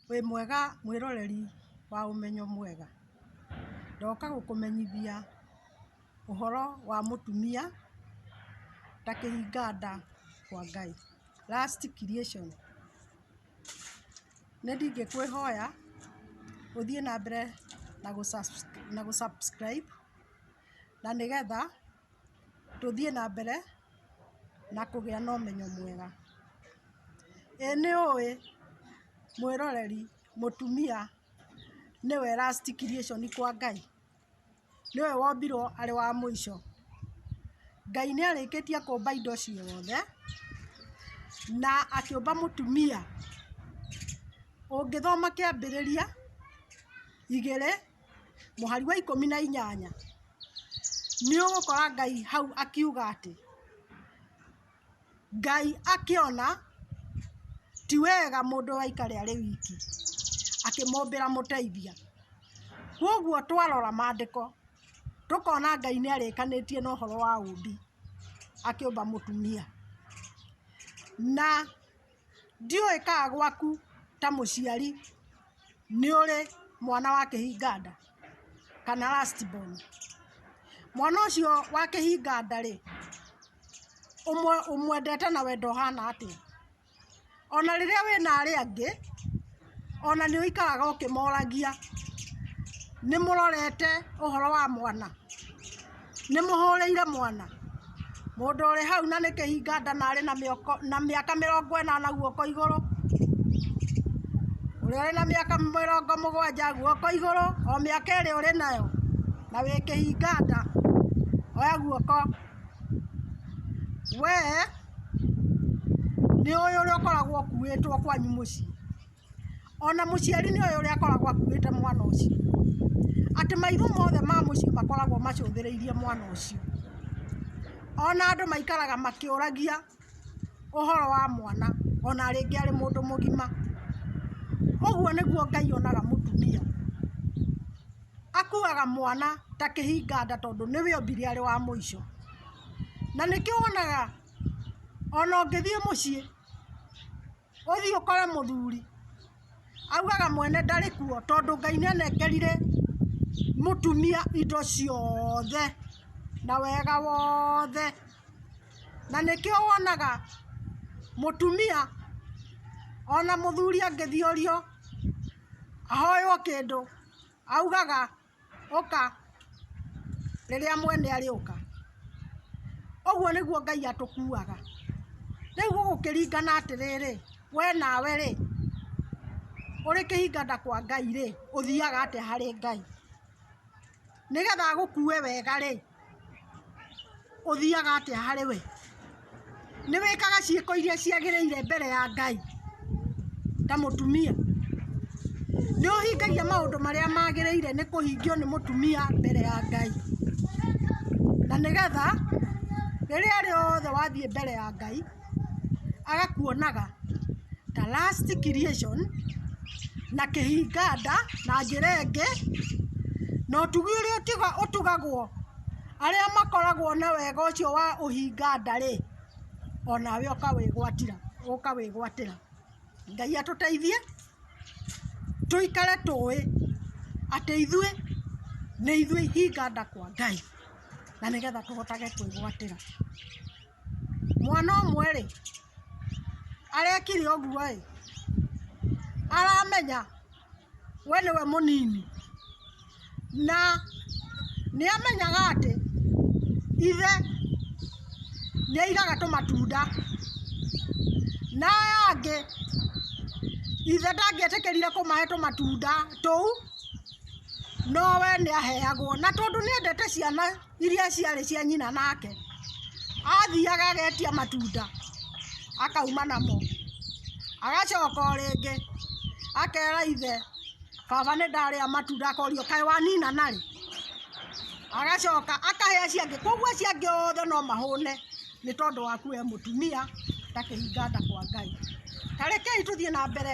Wĩ mwega mwĩroreri wa ũmenyo mwega, ndoka gũkũmenyithia ũhoro wa mũtumia ta kĩhinga nda kwa Ngai, last creation. Nĩ ndingĩkwĩhoya ũthiĩ na mbere na gũ subscribe na gũ subscribe na nĩgetha tũthiĩ na mbere na kũgĩa na ũmenyo mwega. Ĩĩ nĩ ũĩ mwĩroreri mũtumia nĩwe last creation kwa Ngai? nĩwe wombirwo arĩ wa mũico. Ngai nĩ arĩkĩtie kũmba indo ciothe, na akĩũmba mũtumia. Ũngĩthoma kĩambĩrĩria igĩrĩ mũhari wa ikũmi na inyanya, nĩ ũgũkora Ngai hau akiuga atĩ, Ngai akĩona ti wega mũndũ aikare arĩ wiki, akĩmũmbĩra mũteithia. Kwoguo twarora maandĩko, tũkona Ngai nĩ arĩkanĩtie na ũhoro wa ũũmbi, akĩũmba mũtumia. Na Ndiũĩ kana gwaku ta mũciari nĩ ũrĩ mwana wa kĩhinga nda kana last born. Mwana ũcio wa kĩhinga nda rĩ, ũmwendete na wendo ũhana atĩa? Ona rĩrĩa wĩna arĩa angĩ... ona nĩ ũikaraga ũkĩmoragia nĩ mũrorete ũhoro wa mwana nĩ mũhũrĩire mwana mũndũ ũrĩ hau na nĩ kĩhinga nda na arĩ na mĩoko na mĩaka mĩrongo ĩnana guoko igũrũ ũrĩa ũrĩ na mĩaka mĩrongo mũgwanja guoko igũrũ o mĩaka ĩrĩa ũrĩ nayo na wĩ kĩhinga nda oya guoko wee nĩ ũyũ ũrĩa ũkoragwo ũkuĩtwo kwanyu mũciĩ, ona mũciari nĩ ũyũ ũrĩa akoragwo akuĩte mwana ũcio, atĩ maitho mothe ma mũciĩ makoragwo macũthĩrĩirie mwana ũcio, ona andũ maikaraga makĩũragia ũhoro wa mwana ona rĩngĩ arĩ mũndũ mũgima, ũguo nĩguo Ngai onaga mũtumia, Akuaga mwana ta kĩhinga nda tondũ nĩwe ombire arĩ wa mũico. Na nĩkĩo wonaga ona ũngĩthiĩ mũciĩ, ũthiĩ ũkore mũthuri, augaga mwene ndarĩ kuo tondũ Ngai nĩanekerire mũtumia indo ciothe na wega wothe. Na nĩkĩo wonaga mũtumia ona mũthuri angĩthiorio ahoywo kĩndũ... Augaga, Ũka, rĩrĩa Mwene arĩũka. Ũguo nĩguo Ngai atũkuuaga. Rĩu gũgũkĩringana atĩrĩrĩ, we nawe-rĩ, ũrĩ kĩhinganda kwa Ngai-rĩ, ũthiaga atĩa harĩ Ngai? Nĩgetha agũkue wega-rĩ, Ũthiaga atĩa harĩ we? Nĩ wĩkaga ciĩko iria ciagĩrĩire mbere ya Ngai ta mũtumia? Nĩ ũhingagia maũndũ marĩa magĩrĩire nĩ kũhingio nĩ mũtumia mbere ya Ngai? Na nĩgetha rĩrĩa rĩothe wathiĩ mbere ya Ngai... agakuonaga ta last creation na kĩhinga nda na njĩra ĩngĩ na ũtugi ũrĩa ũtiga- ũtugagwo arĩa makoragwo na wega ũcio wa ũhinga nda-rĩ onawe ũkawĩgwatĩra ũkawĩgwatĩra ngai atũteithie tũikare tũĩ atĩ ithuĩ nĩ ithuĩ ihinga nda kwa ngai na nĩgetha tũhotage kwĩgwatĩra mwana ũmwe rĩ arekire ũguo ĩ aramenya we nĩwe mũnini na nĩ amenyaga atĩ ithe nĩ aigaga tũmatunda na aya angĩ ithe ndangĩetĩkĩrire kũmahe tũmatunda tũu no we nĩ aheagwo na tondũ nĩ endete ciana iria ciarĩ cia nyina nake athiaga agetia matunda akauma namo agacoka o rĩngĩ akera ithe baba nĩ ndarĩa matunda akorio kaĩ wanina narĩ agacoka akahe acio angĩ koguo acio angĩ othe no mahũne nĩ tondũ waku we mũtumia ndakĩhinga nda kwa ngai ta rekei tũthiĩ na mbere